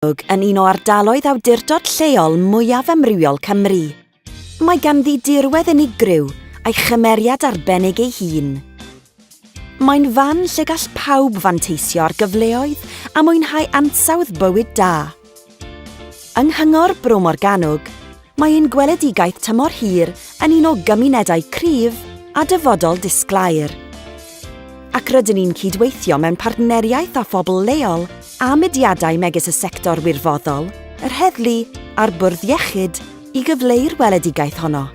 Amlwg yn un o ardaloedd awdurdod lleol mwyaf amrywiol Cymru. Mae ganddi dirwedd unigryw a'i chymeriad arbennig ei hun. Mae'n fan lle gall pawb fanteisio ar gyfleoedd a mwynhau ansawdd bywyd da. Yng Nghyngor Bro Morgannwg, Mae ein gweledigaeth tymor hir yn un o gymunedau cryf a dyfodol disglair. Ac rydyn ni'n cydweithio mewn partneriaeth â phobl leol a mudiadau megis y sector wirfoddol, yr heddlu a'r bwrdd iechyd i gyfleu'r weledigaeth honno.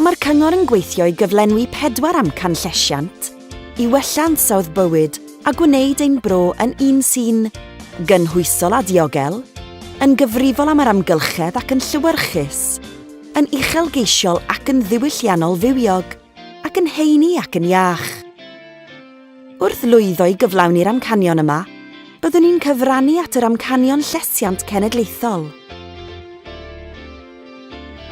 Mae'r Cyngor yn gweithio i gyflenwi pedwar amcan llesiant i wella ansawdd bywyd a gwneud ein bro yn un sy'n gynhwysol a diogel, yn gyfrifol am yr amgylchedd ac yn llewyrchus, yn uchelgeisiol ac yn ddiwylliannol fywiog. ac yn heini ac yn iach. Wrth lwyddo i gyflawni'r amcanion yma, byddwn ni'n cyfrannu at yr amcanion llesiant cenedlaethol.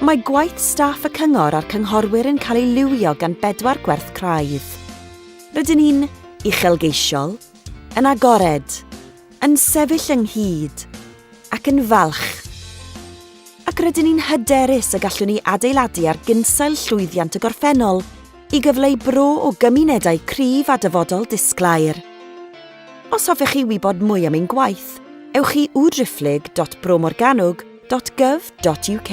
Mae gwaith staff y Cyngor a'r Cynghorwyr yn cael ei liwio gan bedwar gwerth craidd. Rydyn ni'n uchelgeisiol, yn agored, yn sefyll ynghyd ac yn falch, ac rydyn ni'n hyderus y gallwn ni adeiladu ar gynsail llwyddiant y gorffennol i gyfleu bro o gymunedau cryf a dyfodol disglair. Os hoffech chi wybod mwy am ein gwaith, ewch i www.bromorgannwg.gov.uk.